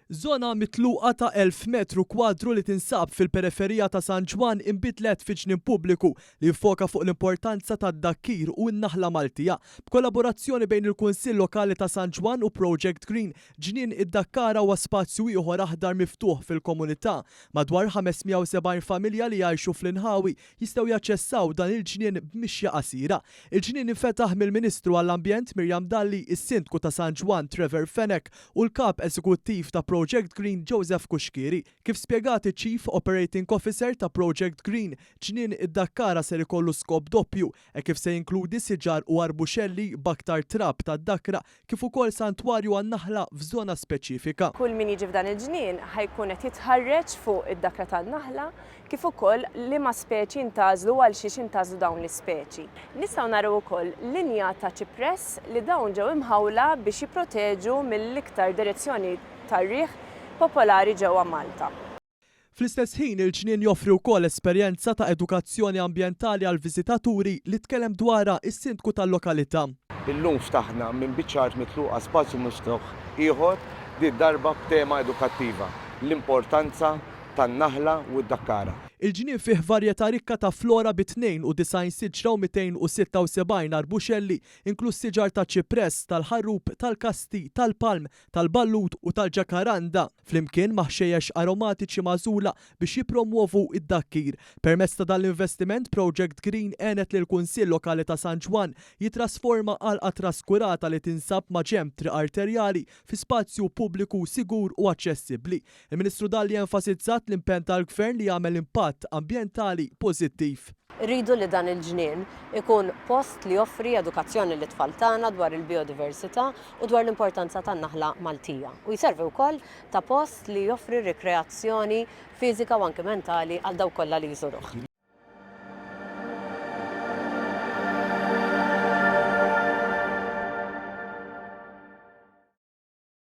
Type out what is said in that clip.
Żona mitluqa ta' 1,000 metru kwadru li tinsab fil-periferija ta' San Ġwann inbidlet fi ġnien pubbliku li jiffoka fuq l-importanza tad-dakkir u n-naħla Maltija. B'kollaborazzjoni bejn il-Kunsill Lokali ta' San Ġwann u Project Green, Ġnien id-Dakkara huwa spazju ieħor aħdar miftuħ fil-komunità. Madwar 570 familja li jgħixu fl-inħawi jistgħu jaċċessaw dan il-ġnien b'mixja qasira. Il-ġnien infetaħ mill-Ministru għall-Ambjent Miriam Dalli, is-Sindku ta' San Ġwann Trevor Fenech u l-Kap Eżekuttiv ta' Project Green Joseph Cuschieri. Kif spjegat iċ-Chief Operating Officer ta' Project Green, ġnien id-Dakkara ser ikollu skop doppju, hekk kif se jinkludi siġar u arbuxelli b'aktar trab ta' dakra kif ukoll santwarju għan-naħla f'żona speċifika. Kull min jiġi f'dan il-ġnien ħa jkun qed jitħarreġ fuq id-dakra tan-naħla kif ukoll liema speċi intgħażlu u għalxiex intgħażlu dawn l-ispeċi. Nistgħu naraw ukoll linja ta' ċipress li dawn ġew imħawla biex jipproteġu mill-iktar direzzjoni tar-riħ popolari ġewwa Malta. Fl-istess ħin, il-ġnien joffri wkoll esperjenza ta' edukazzjoni ambjentali għall-viżitaturi li tkellem dwarha s-Sindku tal-lokalità. Illum ftaħna minn biċċa art mitluqa spazju miftuħ ieħor, di darba b'tema edukattiva, L-Importanza tan-Naħla u d-Dakkara. Il-ġnien fih varjetà rikka ta' flora bi 92 siġra u 276 arbuxelli, inkluż siġar taċ-ċipress, tal-ħarrub, tal-kasti, tal-palm, tal-ballut u tal-ġakaranda. flimkien ma' ħxejjex aromatiċi magħżula biex jippromwovu d-dakkir. Permezz ta' dan l-investiment, Project Green għenet lill-Kunsill Lokali ta' San Ġwann jittrasforma għalqa traskurata li tinsab maġenb triq arterjali fi spazju pubbliku sigur u aċċessibbli. Il-Ministru Dalli enfasizzat l-impenn tal-Gvern li jagħmel impatt ambjentali pożittiv. Irridu li dan il-ġnien ikun post li joffri edukazzjoni lit-tfal tagħna dwar il-bijodiversità u dwar l-importanza tan-naħla Maltija u jservi wkoll ta' post li joffri rikreazzjoni fiżika u anki mentali għal dawk kollha li jżuruh.